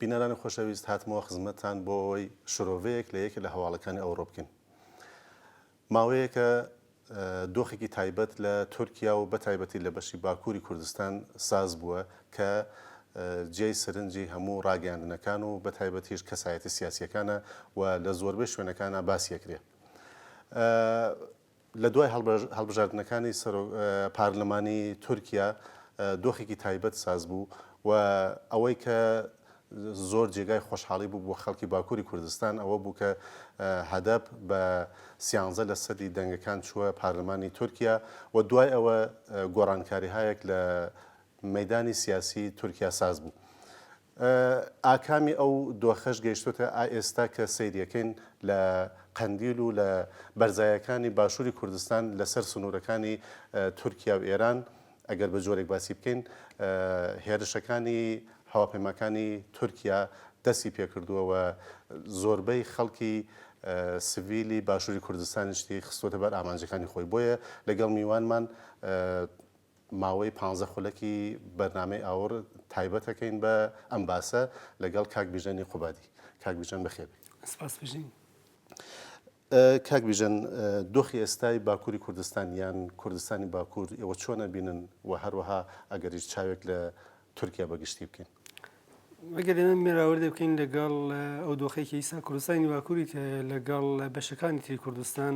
بینەرانی خۆشەویست هاتمەوە خزمەتتان بۆ ئەوەی شرۆڤەیەک لە یەکێ لە هەواڵەکانی ئەوڕۆ بکەین. ماوەیەکە دۆخێکی تایبەت لە تورکیا و بەتایبەتی لە بەشی باکووری کوردستان ساز بووە کە جێی سرنجی هەموو ڕاگەیاندنەکان و بەتایبەتیش کەسایەتی سیاسیەکانە و لە زۆربەی شوێنەکانە باسیەکرێ. لە دوای هەڵبژاردنەکانی سەرۆک پارلمانی تورکیا دۆخێکی تایبەت ساز بوو و ئەوەی کە زۆر جێگای خۆشحاڵی بوو بۆ خەڵکی باکووری کوردستان ئەوە بوو کە هەدەپ بە سیانزە لە سەدی دەنگەکان چووە پارلمانی تورکیا و دوای ئەوە گۆڕانکاریهایەک لە مەیدانی سیاسی تورکیا ساز بوو. ئاکامی ئەو دۆخەش گەیشتۆتە ئائێستا کە سەیریەکەین لە قەندیل و لە بەرزایەکانی باشوری کوردستان لە سەر سنورەکانی تورکیا و ئێران ئەگەر بە جۆرێک باسی بکەین هێرشەکانی هەواپەیماکانی تورکیا دەستی پێکردووە و زۆربەی خەڵکی سڤیلی باشوری کوردستانیشتی خستۆتە بەر ئامانجەکانی خۆی بۆیە لەگەڵ میوانمان ماوەی پانزە خولەکی بەرنامەی ئاوڕ تایبەتەکەین بە ئەم باسە لەگەڵ کاک بیژەنی قوبادی کاک بیژەن بەخێر بێی. سپاس بژین. کاک بیژەن دۆخی ئێستای باکووری کوردستان یان کوردستانی باکوور ئێوە چۆن ئەبینن و هەروەها ئەگەریش چاوێک لە تورکیا بە گشتی بکەین. ئەگەر ئێمە مێراوردێ بکەین لەگەڵ ئەو دۆخەی کە ئیسا کوردستانی باکووری کە لەگەڵ بەشەکانی تری کوردستان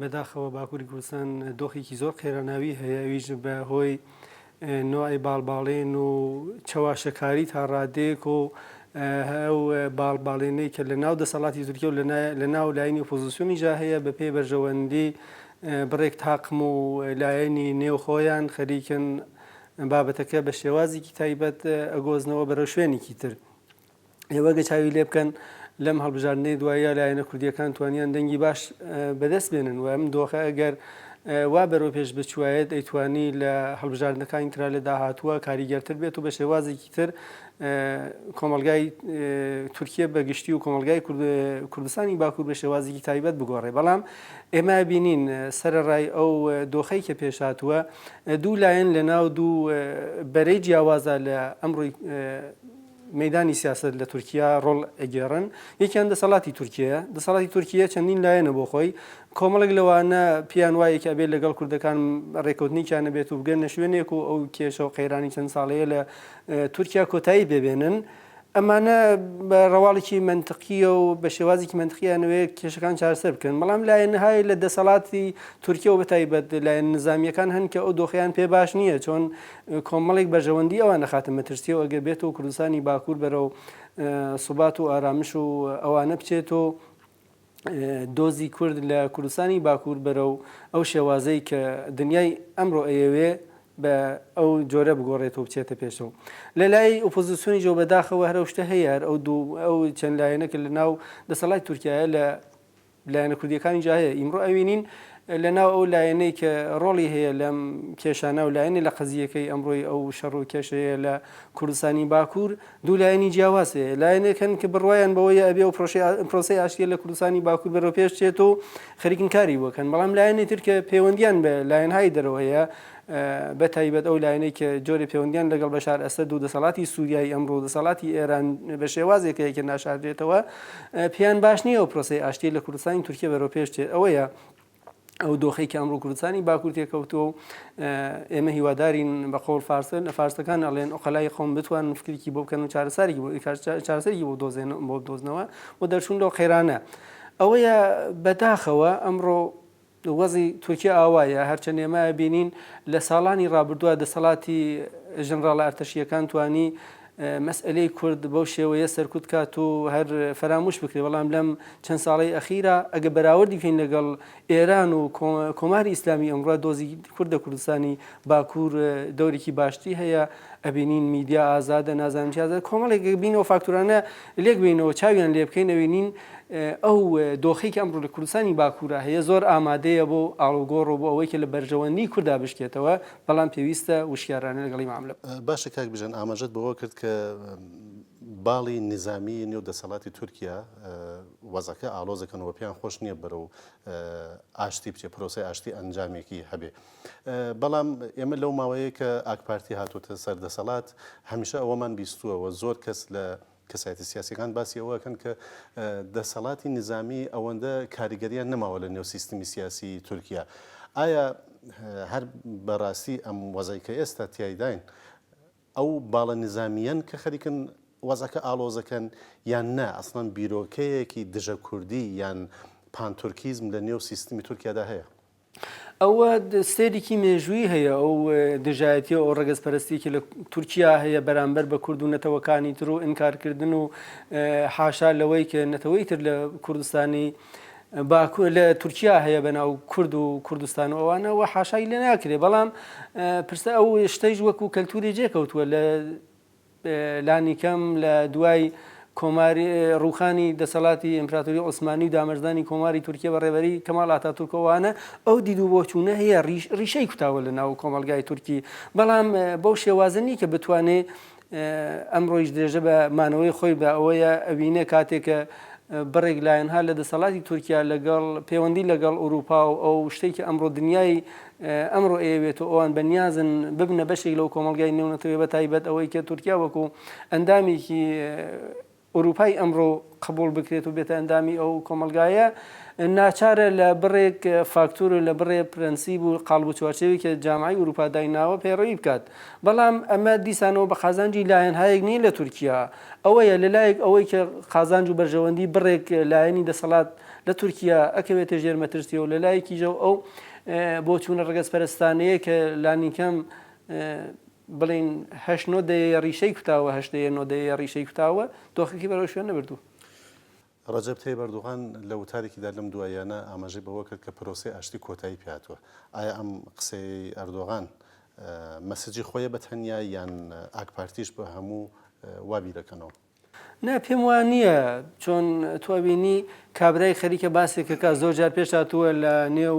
بەداخەوە باکووری کوردستان دۆخێکی زۆر قێراناوی هەیە ویژ بە هۆی نوعی باڵباڵێن و چەواشەکاری تا ڕادێک و ئەو باڵباڵێنەی کە لە ناو دەسەڵاتی تورکیا و لە ناو لایەنی ئۆپۆزیسیۆنی جا هەیە بە پێی بەرژەوەندی بڕێک تاقم و لایەنی نێوخۆیان خەریکن بابەتەکە بە شێوازێکی تایبەت ئەگۆزنەوە بەرەو شوێنێکی تر. ئێوە گە چاوی لێ بکەن لەم هەڵبژاردنەی دوایە لایەنە کوردیەکان توانیان دەنگی باش بەدەست بێنن و ئەم دۆخە ئەگەر وا بەرەو پێش بچوایەت ئەیتوانی لە هەڵبژاردنەکانی تررا لە داهاتووە کاریگەرتر بێت و بە شێوازێکی تر کۆمەلگای تورکیە بە گشتی و کۆمەلگای کوردستانی باکوور بە شێوازیکی تایبەت بگۆڕێ بەڵام ئێمە بینین سەرڕای ئەو دۆخەی کە پێش هاتووە دوو لایەن لە ناو دوو بەرەی جیاوازە لە ئەمڕۆی مەدانی سیاست لە تورکیا ڕۆڵ ئەگێڕن یەکیان دەسەڵاتی تورکیە دەسەڵاتی تورکیە چەندین لایەنە بۆ خۆی کۆمەڵێک لەوانە پێیان وایە کە ئەبێت لەگەڵ کوردەکان ڕێکەوتنێکیان نەبێت و بگەنە شوێنێک و ئەو کێشە و قەیرانی چەند ساڵەیە لە تورکیا کۆتایی پێبێنن. ئەمانە بە ڕەواڵێکی مەنتقیە و بە شێوازێکی مەنتقییانەوەی کێشەکان چارسەر بکەن بەڵام لایەنهای لە دەسەڵاتی تورکیەوە بەتایبەت لایەن نزامیەکان هەن کە ئەو دۆخیان پێ باش نییە چۆن کۆمەڵێک بەرژەوەندی ئەوان نەخاتە مەترسیەوە ئەگە بێت و کوردستانی باکوور بەرەو سوبات و ئارامش و ئەوانە بچێت و دۆزی کورد لە کوردستانی باکوور بەرەو ئەو شێوازەی کە دنیای ئەمڕۆ ئەیەوێ بە ئەو جۆرە بگۆڕێتەوە بچێتە پێشەوە لە لای ئۆپۆزیسیۆنی جۆ بەداخەوە هەرە شتە هەیە هەر ئەو دوو ئەو چەند لایەنەکە لە ناو دەسەڵات تورکایە لە لایەنە کوردیەکانی جا هەیە ئیمڕۆ ئەوینین لە ناو ئەو لایەنەی کە ڕۆڵی هەیە لەم کێشانە و لایەنی لە قەزیەکەی ئەمڕۆی ئەو شەڕ و کێشەیە لە کوردستانی باکوور دوو لایەنی جیاواز هەیە، لایەنێک هەن کە بڕوایان بەوەیە ئەبێ و پرۆسەی ئاشتییە لە کوردستانی باکوور بەرەو پێش چێت و خەریکن کاری بۆ کەن، بەڵام لایەنی تر کە پێوەندییان بە لایەنهای دەرەوە هەیە، بە تایبەت ئەو لایەنەی کە جۆرێ پێوەندییان لەگەڵ بەشار ئەسەد و دەسەڵاتی سووریای ئەمڕۆ و دەسەڵاتی ئێران بە شێوازێک هەیە کە ناشاردرێتەوە، پێیان باش نییە و پرۆسەی ئاشتیی لە کوردستانی تورکیە بەرەو پێش چێت، ئەوەیە. ئەو دۆخەی کە ئەمڕۆ کوردستانی باکوور تێکەوتووە و ئێمە هیوادارین بە قۆڵ فارسە لە فارسەکان ئەڵێن ئۆقەلای قوم بتوان فکرێکی بۆ بکەن و چارەسەرێکی بۆ چارەسەرێکی بۆ دۆزێن بۆ دۆزنەوە و دەرچوون لەو قەیرانە ئەوەیە بەداخەوە ئەمڕۆ وەزی تورکیا ئاوایە هەرچەند ئێمە بینین لە ساڵانی ڕابردووە دەسەڵاتی ژنراڵە ئەرتەشیەکان توانی مەسئەلەی کورد بەو شێوەیە سەرکوت کات و هەر فەراموش بکرێ، بەڵام لەم چەند ساڵەی ئەخیرا ئەگەر بەراوردی بکەین لەگەڵ ئێران و کۆماری ئیسلامی ئەمڕۆ دۆزی کورد لە کوردستانی باکوور دەورێکی باشتری هەیە، ئەبینین میدیا ئازادە نازانم چی ئازادە، کۆمەڵێک بین و فاکتورانە لێک بینەوە چاویان لێ بکەین ئەبینین ئەو دۆخی کە ئەمڕۆ لە کوردستانی باکوورا هەیە زۆر ئامادەیە بۆ ئاڵوگۆڕ و بۆ ئەوەی کە لە بەرژەوەندی کوردا بشکێتەوە، بەڵام پێویستە وشیارانە لەگەڵی ماملە بکەین. باشە کاک بژێن ئاماژەت بەوە کرد کە باڵی نیزامی نێو دەسەڵاتی تورکیا وەزەکە ئاڵۆزەکەن و پێیان خۆش نییە بەرەو ئاشتی بچێ پرۆسی ئاشتی ئەنجامێکی هەبێ بەڵام ئێمە لەو ماوەیە کە ئاکپارتی هاتوتە سەر دەسەڵات هەمیشە ئەوەمان بیستووەوە زۆر کەس لە کەسایەتە سیاسیەکان باسی ئەوە ئەکەن کە دەسەڵاتی نیزامی ئەوەندە کاریگەریان نەماوە لە نێو سیستمی سیاسی تورکیا ئایا هەر بەڕاستی ئەم وەزای کە ئێستا تایداین ئەو باڵە نزامیەن کە خەریکن وەزەکە ئاڵۆزەکەن یان نا ئەسڵان بیرۆکەیەکی دژە کوردی یان پانتورکیزم لە نێو سیستمی تورکیادا هەیە ئەوە سەیرێکی مێژوویی هەیە ئەو دژایەتیە ئەو ڕەگەز پەرستێکی لە تورکیا هەیە بەرامبەر بە کورد و نەتەوەکانی تر و ئینکارکردن و حاشا لەوەی کە نەتەوەی تر لە کوردستانی باکوور لە تورکیا هەیە بەناو کورد و کوردستان و ئەوانەوە حاشای لێ ناکرێ بەڵام پرسە ئەو شتەیش وەکو کەلتوری جێکەوتووە لە لانیکەم لە دوای کۆماری ڕووخانی دەسەڵاتی ئیمپراتۆری عوسمانی و دامەرزانی کۆماری تورکیە بە ڕێبەری کەماڵ ئاتاتورکەوانە ئەو دید و بۆچوونە هەیە ڕیشەی کوتاوە لە ناو کۆمەلگای تورکی بەڵام بەو شێوازە نی کە بتوانێ ئەمڕۆیش درێژە بە مانەوەی خۆی بە ئەوەیە ئەوینە کاتێکە بڕێک لایەنها لە دەسەڵاتی تورکیا لەگەڵ پەیوەندی لەگەڵ ئوروپا و ئەو شتێکی ئەمڕۆ دنیای ئەمڕۆ ئەیەوێت و ئەوان بە نیازن ببنە بەشێک لەو کۆمەڵگای نێونەتەوەیە بە تایبەت ئەوەی کە تورکیا وەکو ئەندامێکی ئورووپای ئەمڕۆ قبوڵ بکرێت و بێتە ئەندامی ئەو کۆمەلگایە ناچارە لە بڕێک فاکتور و لە بڕێ پرەنسیب و قاڵب و چوارچێوی کە جامعی ئوروپا دایناوە پەیڕەوی بکات بەڵام ئەمە دیسانەوە بە قازانجی لایەن هایەک نیە لە تورکیا ئەوەیە لە لایەک ئەوەی کە قازانج و بەرژەوەندی بڕێک لایەنی دەسەڵات لە تورکیا ئەکەوێتە ژێر مەترسیەوە لە لایەکی ژەو ئەو بۆچوونە ڕەگەزپەرستانەیە کە لانیکەم بڵێین هەشت نۆ دەیەیە ڕیشەی کوتاوە، هەشت دەیە نۆ دەیەیە ڕیشەی کوتاوە، دۆخەکەی بەرەو شوێن نەبردووە. ڕەجەب تەیب ئەردوغان لە وتارێکیدا لەم دواییانە ئاماژەی بەوە کرد کە پرۆسەی ئاشتی کۆتایی پێ هاتووە. ئایا ئەم قسەیەی ئەردۆغان مەسجی خۆیە بە تەنیا یان ئاکپارتیش بە هەموو وا بیر ئەکەنەوە؟ نا پێم وا نییە چۆن تۆ ئەبینی کابرای خەریکە باسێک کەکا زۆر جار پێش هاتووە لە نێو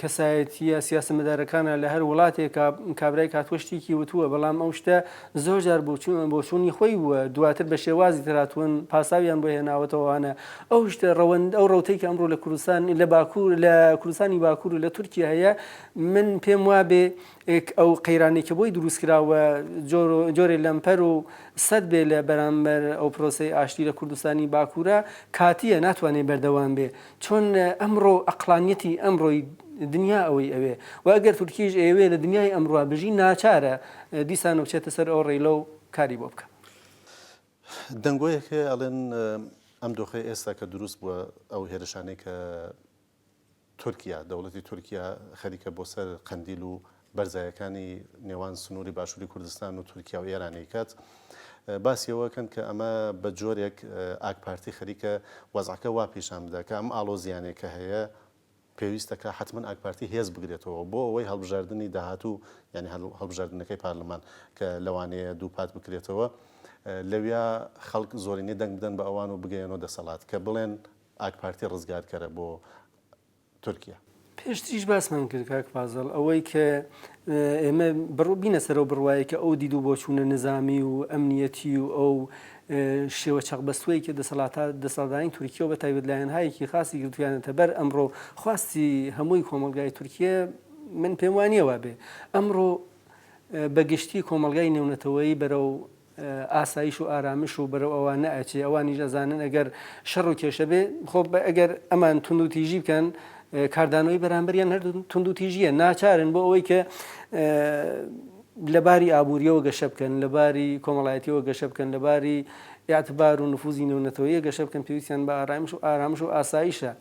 کەسایەتیە سیاسەمەدارەکانە لە هەر وڵاتێک کابرای کاتوە شتێکی وتووە بەڵام ئەو شتە زۆر جار بۆچوون بۆچوونی خۆی بووە دواتر بە شێوازی تراتون پاساویان بۆ هێناوەتەوەوانە ئەو شتە ڕەوەند ئەو ڕوتەی کە ئەمڕۆ لە کوردستان لە باکوور لە کوردستانی باکوور و لە تورکیا هەیە من پێم وابێ ێک ئەو قەیرانەی کە بۆی دروست کرا و جۆرێ لەمپەر و سەد بێ لە بەرامبەر ئەو پرۆسەی ئاشتی لە کوردستانی باکورە کاتیە ناتوانێ بەردەوام بێ چۆن ئەمڕۆ ئەقڵانیەتی ئەمڕۆی دنیا ئەوەی ئەوێ و ئەگەر تورکیش ئەیەوێ لە دنیای ئەمڕا بژی ناچارە دیسانە بچێتە سەر ئەو ڕێلە و کاری بۆ بکا. دەنگۆیەک هەیە ئەڵێن ئەم دۆخەی ئێستا کە دروست بوە ئەو هێرشانەی کە تورکیا، دەوڵەتی تورکیا خەریکە بۆ سەر قەندیل و بەرزایەکانی نێوان سنووری باشووری کوردستان و تورکیا و ئێران ئەیکات، باسی ئەوە ئەکەن کە ئەمە بە جۆرێک ئاکپارتی خەریکە وەزعەکە وا پیشان بدا کە ئەم ئاڵۆزییانەی کە هەیە پێویستە کە حەتمەن ئاکپارتی هێز بگرێتەوە بۆ ئەوەی هەڵبژاردنی داهاتوو یانی هەڵبژاردنەکەی پارلمان کە لەوانەیە دووپات بکرێتەوە لەویا خەڵک زۆرینەی دەنگ بدەن بە ئەوان و بگەیەنەوە دەسەڵات کە بڵێن ئاکپارتی ڕزگارکەرە بۆ تورکیا. پێشتریش باسمان کرد کاک فازڵ ئەوەی کە ئێمە بڕ بینە سەرەوە بڕوایە کە ئەو دیدو بۆ چوونە نزامی و ئەمنیەتی و ئەو شێوە چەقبەستوەی کە دەسەڵاتە دەسەڵدانی تورکیەوە بە تایبەت لایەنهایەکی خاصی گرتویانەتە بەر ئەمڕۆ خواستی هەمووی کۆمەلگای تورکیە من پێم وانیە وابێ ئەمڕۆ بە گشتی کۆمەلگای نێونەتەوەیی بەرەو ئاسایش و ئارامش و بەرەو ئەوە نەئەچێ، ئەوانیش ئەزانن ئەگەر شەڕ و کێشە بێ، خۆ ئەگەر ئەمان توندوتیژی بکەن، کاردانەوەی بەرامبەریان هەر توندوتیژییە، ناچارن بۆ ئەوەی کە لە باری ئابوورییەوە گەشە بکەن، لە باری کۆمەڵایەتییەوە گەشە بکەن، لە باری ئیعتبار و نفوزی نێونەتەوەییە گەشە بکەن، پێویستیان بە ئارایمش و ئارامش و ئاسایشە.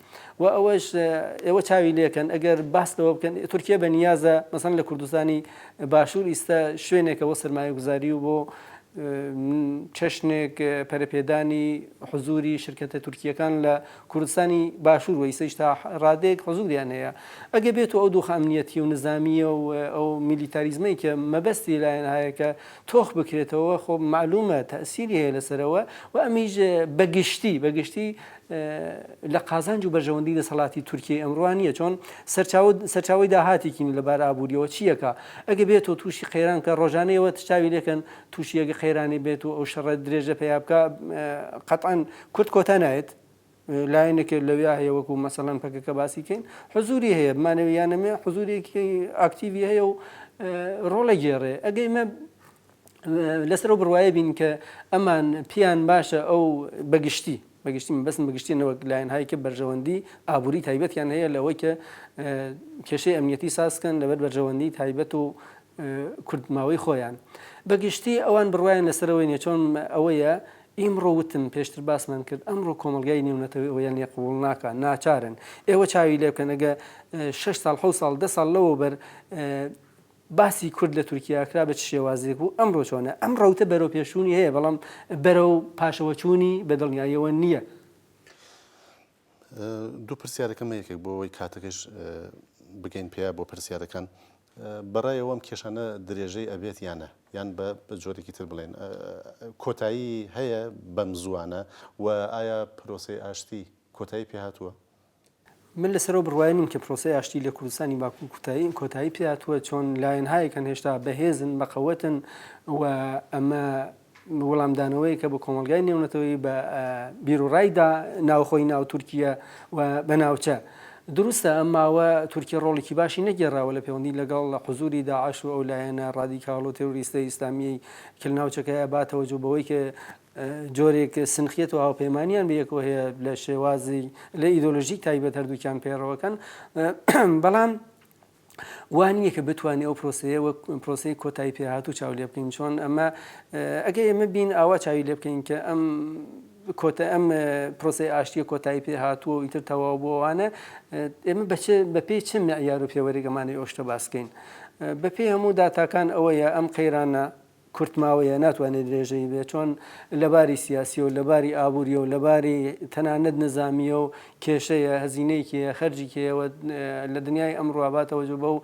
وە ئەوەش ئێوە چاوی لێکەن ئەگەر باس لەوە بکەن تورکیە بە نیازە مەسەن لە کوردستانی باشوور ئیستا شوێنێکە بۆ سەرمایە گوزاری و بۆ چەشنێک پەرپێدانی حزوری شرکتە تورکیەکان لە کوردستانی باشوور وەیسەش تا ڕادێک حزوریان هەیە ئەگە بێت و ئەو دوو خامنیەتی و نزانامیە و ئەو میلیتاریزمەی کە مەبەستی لایەن هایەکە تۆخ بکرێتەوە خۆ معلومە تەسیری هەیە لەسەرەوە و ئەمیش بەگشتی بەگشتی لە قازانج و بەرژەوەندی دەسەڵاتی تورکیەی ئەمڕوا نیە چۆن سەرچاوە سەرچاوەی داهاتێکین لە بار ئابووریەوە چیەکە ئەگە بێت و تووشی قەیران کە ڕۆژانەیەوە تشتاوی لەکەن تووشیەگە قەیرانی بێت و ئەو شەڕە درێژە پیا بکە قەتعاان کورد کۆتا نایێت لایەنێک لەویا هەیە وەکو مەسەلەن پەکەکە باسی کەین حزوری هەیە بمانەوە یانەمێ حزورێکی ئاکتیوی هەیە و ڕۆڵە گێڕێ ئەگەی مە لەسەر ئەو بڕوایە بین کە ئەمان پیان باشە ئەو بەگشتی بەگشتی من بەسم بەگشتی نەوەک لایەن هایی کە بەرژەوەندی ئابووری تایبەتیان هەیە لەوەی کە کێشەی ئەمنیەتی سازکەن لەبەر بەرژەوەندی تایبەت و کردماوەی خۆیان بەگشتی ئەوان بڕواین لەسەرەوەی نێچۆن ئەوەیە ئیمڕۆ وتم پێشتر باسمان کرد ئەمڕۆ کۆمەلگای نێونەتەوەی ئەویان لێ قوڵ ناکە ناچارن ئێوە چاوی لێ بکەنەگە 6 سال حو سال ده سال لەوە بەر باسی کورد لە تورکیا کرا بە چ شێوازێک بوو، ئەمڕۆ چۆنە؟ ئەم ڕەوتە بەرەوپێشچوونی هەیە، بەڵام بەرەو پاشەوەچوونی بە دڵنیاییەوە نییە. دوو پرسیارەکەم هەیە یەکێک بۆ ئەوەی کاتەکەش بگەین پێیە بۆ پرسیارەکان. بە ڕای ئەوەم کێشانە درێژەی ئەبێت یان نە؟ یان بە جۆرێکی تر بڵێین کۆتایی هەیە بەم زووانە؟ و ئایا پرۆسەی ئاشتی کۆتایی پێهاتووە؟ من لەسەر ئەو بڕوایە نیم کە پرۆسەی ئاشتی لە کوردستانی باکوور کوتایی کۆتایی پێ هاتووە، چۆن لایەنهایەک هەن هێشتا بەهێزن، بەقەوەتن و ئەمە وڵامدانەوەیەکە بە کۆمەڵگای نێونەتەوەیی، بە بیروڕای دا ناوخۆی ناو تورکیە و بە ناوچە. دروستە ئەم ماوە تورکیە ڕۆڵێکی باشی نەگێڕاوە لە پێوەندی لەگەڵ حزووری داعش و ئەو لایەنە ڕادیکاڵ و تێرۆریستە ئیسلامییەی کە لە ناوچەکەیە باتەوەجۆ بەوەی کە جۆرێک سنخیەت و هاوپەیمانیان بەیەکەوە هەیە لە شێوازی لە ئیدۆلۆژیک تایبەت هەردووکیان پێڕەوەکەن بەڵام وانە کە بتوانێت ئەو پرۆسەیە وەک پرۆسی کۆتایی پێهات و چاو لێ بکەین چۆن ئەمە ئەگە ئێمە بین ئاوا چاوی لێ بکەین کە ئەم کۆتە ئەم پرۆسی ئاشتیە کۆتایی پێ هاتووە و ئیتر تەواو بۆوانە ئێمە بەچێ بە پێی چ مەعیار و پێوەرێکەمانی ئۆشتە باسکەین بە پێی هەموو داتاکان ئەوەیە ئەم قەیرانە کورتماوەیە ناتوانێت درێژەی بێت چۆن لەباری سیاسیەو لەباری ئابوریەو لەباری تەنانەت نزامیەو کێشەیە هەزینەیەکی هەیە خەرجیکی هەیە وە لە دنیای ئەمڕوا با تەوەجۆ بەو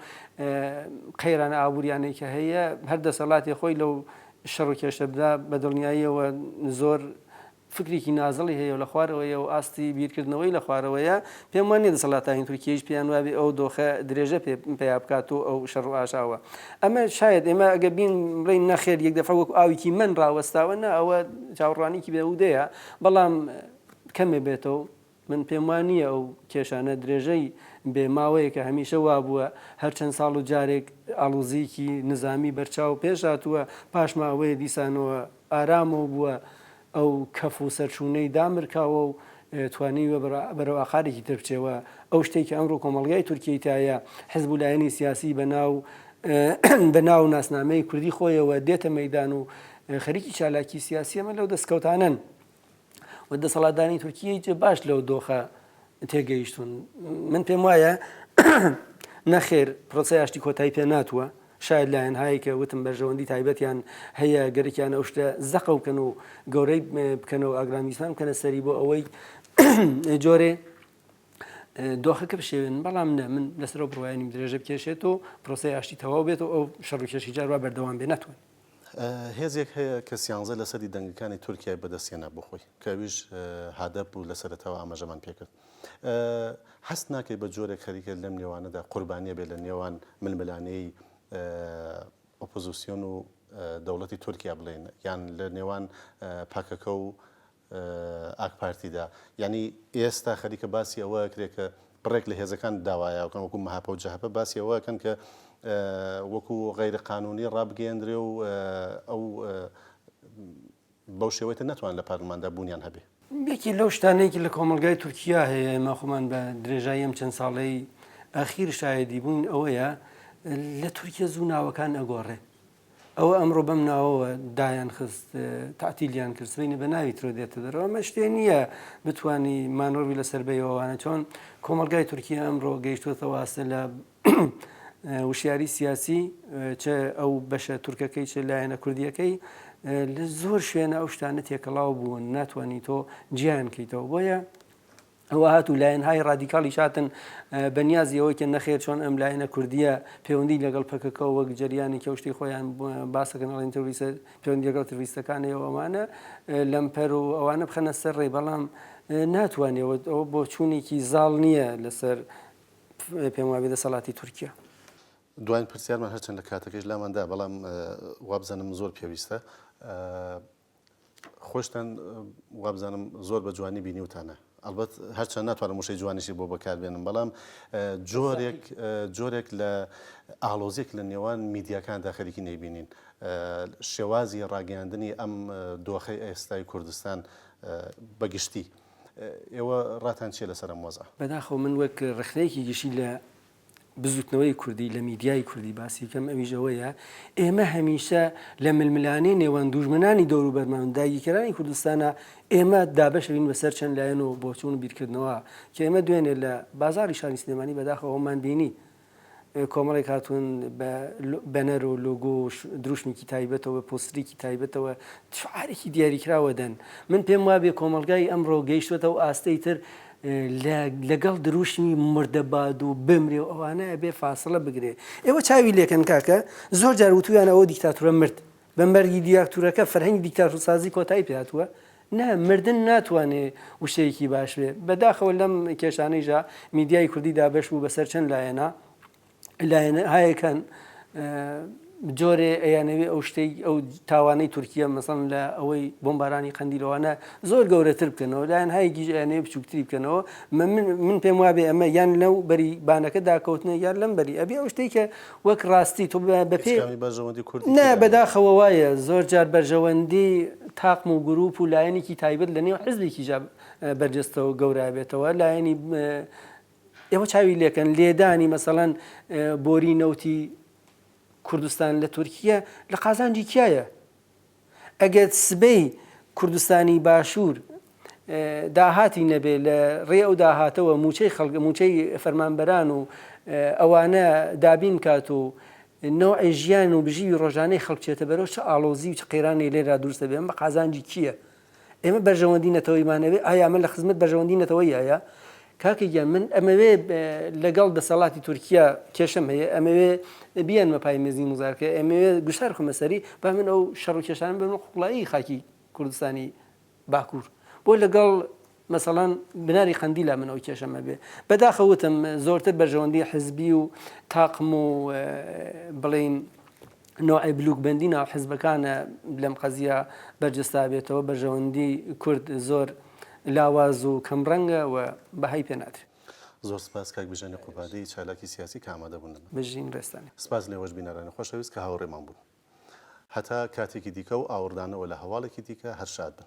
قەیرانە ئابوریانەی کە هەیە هەر دەسەڵاتی خۆی لەو شەڕو کێشەدا بەدڵنیایەوە زۆر فکرێکی نازڵی هەیە و لە خوارەوەیە و ئاستی بیرکردنەوەی لە خوارەوەیە، پێم وا نییە دەسەڵاتانی تورکییەیش پێیان وا بێ ئەو دۆخە درێژە پێ پەیا بکات و ئەو شەڕ و ئاژاوە. ئەمە شایەد ئێمە ئەگەر بین بڵێین نەخێر یەک دەفعە وەکو ئاوێکی مەن ڕاوەستاوە، نا ئەوە چاوڕوانییەکی بێ هوودەیە، بەڵام کەمێ بێتەوە، من پێم وا نییە ئەو کێشانە درێژەی بێ، ماوەیەکە هەمیشە وا بووە، هەر چەند ساڵ و جارێک ئاڵوزیکی نزامی بەرچاو پێش هاتووە، پاش ماوەیە دیسانەوە ئارامە و بووە ئەو کەف و سەرچوونەی دامرکاوە و توانیوە بەرەو ئاقارێکی تر بچێ و ئەو شتەی کە ئەمڕۆ کۆمەڵگای تورکیەی تایە حزب و لایەنی سیاسی بە ناو بە ناو و ناسنامەی کوردی خۆیەوە دێتە مەیدان و خەریکی چالاکی سیاسی ئەمە لەو دەستکەوتانەن. و دەسەڵاتدانی تورکیەی جێ باش لەو دۆخە تێگەیشتون من پێم وایە نەخێر پرۆسی ئاشتی کۆتایی پێ ناتوە شاید لایەن هایکە وتم بەرژەوەندی تایبەتیان هەیە گەرەکیان ئەو شتە زەقە بکەن و گەورەی بکەنەوە ئاگرامیسان بکەنە سەری بۆ ئەوەی جۆرێ دۆخەکە بشێوێن بەڵام نە من لەسەر بڕواینیم درێژە بکێشێت و پرۆسی ئاشتی تەواو بێت و ئەو شەڕکێشی جاروا بەردەوام بێ ناتوانێت هێزێک هەیە کە سیانزە لە سەدی دەنگەکانی تورکیای بەدەست هێنا بۆ خۆی کە ئەویش هادەپ بوو لە سەرەتاوە ئاماژەمان پێ کرد هەست ناکەی بە جۆرێک خەریکە لەم نێوانەدا قوربانیە بێ لە نێوان ململانێی ئۆپۆزیسیۆن و دەوڵەتی تورکیا بڵێین یان لە نێوان پەکەکە و ئاکپارتیدا. یانی ئێستا خەریکە باسی ئەوە ئەکرێ کە بڕێک لە هێزەکان داوایە ئەوکەن وەکو مەهەپە و جەهەپە باسی ئەوە ئەکەن کە وەکو غەیرە قانوونی ڕابگەیەندرێ و ئەو بەو شێوەی تر نەتوان لە پارلماندا بوونیان هەبێ. یەکێ لەو شتانەی کە لە کۆمەڵگای تورکیا هەیە ئێمە خۆمان بە درێژایی ئەم چەند ساڵەی ئەخیر شایەدی بووین ئەوەیە لە تورکیا زوو ناوەکان ئەگۆڕێ ئەوە ئەمڕۆ بەم ناوەوە دایان خست تاتیلیان کرد سبەینێ بە ناوی ترۆ دێتە دەرەوە ئەمە شتێ نییە بتانی مانۆڕی لەسەر بەیەوەوانە چۆن کۆمەلگای تورکیا ئەمڕۆ گەیشتوتە واستە لە وشیاری سیاسی چ ئەو بەشە تورکەکەی چ لایەنە کوردیەکەی لە زۆر شوێنە ئەو شتانە تێکەڵاو بوون ناتوانانی تۆ جیان کەیتەوە بۆیە ئەوە هات و لایەنهای ڕادیکاڵیش هاتن بە نیازی ئەوەی کە نەخێر چۆن ئەم لایەنە کوردیە پەیوەندی لەگەڵ پەکەکەەوە وەک جریانی کەوشتی خۆیان باسەکەن ئەڵین تروریسە پەیوەندی لەگەڵ تروریستەکانەوە ئەوانە لەمپەر و ئەوانە بخەنە سەر ڕێ بەڵام ناتوانێەوە ئەوە بۆ چوونێکی زاڵ نییە لەسەر پێم وابێ دەسەڵاتی تورکیا. دوایین پرسیارمان هەرچەند لە کاتەکەش لاماندا بەڵام وابزانم زۆر پێویستە خۆشتان وابزانم زۆر بە جوانی بینیوتانە ئەڵبەت هەرچەند ناتوانم وشەی جوانیشی بۆ بەکاربێنم بەڵام جۆرێک جۆرێک لە ئاڵۆزیک لە نێوان میدیاکاندا خەریکی نەیبینین شێوازی ڕاگەاندنی ئەم دۆخی ئێستای کوردستان بەگشتی. ئێوە ڕاتان چیە لەسەر ئەم وەزعە؟ بەداخەوە من وەک ڕخنەیەکی گشتی لە بزوتنەوەی کوردی لە میدیای کوردی باسی کەم ئەویش ئەوەیە ئێمە هەمیشە لە ململانێ نێوان دوژمنانی دەوروبەرمان داگیکەرانی کوردستانە ئێمە دابشرین بەسەر چەند لایەن و بۆچون و بیرکردنەوە کە ئێمە دوێنێ لە بازاری شانی سلێمانی بەداخەوەمان بینی کۆمەڵی کاتون بە بەنەر و لۆگۆ دروشمێکی تایبەتەوە پۆستریکی تایبەتەوە شعارێکی دیاریکراوە دەن من پێم وابێ کۆمەلگای ئەمڕۆ گەیشتێتەوە ئاستەی تر لە لەگەڵ دروشمی مردە باد و بمرێ و ئەوانە ئەبێ فاسڵە بگرێ ئێوە چاوی لێکەن کاکە زۆر جار وتویانە ئەوە دیکتاتورە مرد بە مەرگی دیاکتورەکە فەرهەنگی دیکتاتورسازی کۆتایی پێ هاتووە نا مردن ناتوانێ وشەیەکی باش بێ بەداخەوە لەم کێشانەیشا میدیای کوردی دابەش بوو بەسەر چەند لایەنا لایەنهایەکان جۆرێ ئەیانەوێ ئەو شتەی ئەو تاوانەی تورکیا مەسەن لە ئەوەی بۆمبارانی قەندیلەوانە زۆر گەورەتر بکەنەوە لایەن هایگیش ئەیانەوێ بچووکتری بکەنەوە من پێم وابێ ئەمە یان لەو بەری بانەکە داکەوتنە یان لەم بەری ئەبێ ئەو شتێک کە وەک ڕاستی تۆ بەپێ نە بەداخەوە وایە زۆر جار بەرژەوەندی تاقم و گروپ و لایەنێکی تایبەت لە نێو حزبێکی جاب بەرجەستەوە گەورابێتەوە لایەنی ئێوە چاوی لێکەن لێدانی مەسەڵەن بۆری نەوتی کوردستان لە تورکیە لە قازانجی کیایە ئەگەر سبەی کوردستانی باشوور داهاتی نەبێ لە ڕێ ئەو داهاتەوە موچەی خەڵک موچەی فەرمانبەران و ئەوانە دابین کات و نەوعی ژیان و بژیوی ڕۆژانەی خەڵکچێتە بەرەو چ ئاڵۆزی و چ قەیرانی لێرا دروستە بێن بە قازانجی کییە ئێمە بەرژەوەندی نەتەوەیمانەوێ ئایا ئەمە لە خزمەت بەرژەوەندی نەتەوەییایە؟ کاکە گیان من ئەمەوێ لەگەڵ دەسەڵاتی تورکیا کێشەم هەیە ئەمەوێ بیانمە پای مێزی موزاکرە ئەمەوێ گوشار خمە سەری با من ئەو شەڕ و کێشانم بەمە قوڵایی خاکی کوردستانی باکوور بۆ لەگەڵ مەسەڵەن بناری قەندیلە من ئەو کێشەم هەبێ بەداخە وتم زۆرتر بەرژەوەندی حزبی و تاقم و بڵین نوعی بلوک بەندی ناو حزبەکانە لەم قەزیە بەرجستا بێتەوە بەرژەوەندی کورد زۆر لاواز و کەم ڕەنگە و بەهای پێ نادرێت. زۆر سپاس کاک بژێنی قوبادی چالاکی سیاسی کە ئامادە بوون لەمە. بژین ڕێزتان. سپاس لێوەش بینەرانی خۆشەویست کە هاوڕێمان بوون. هەتا کاتێکی دیکە و ئاوڕدانەوە لە هەواڵێکی دیکە هەر شاد بن.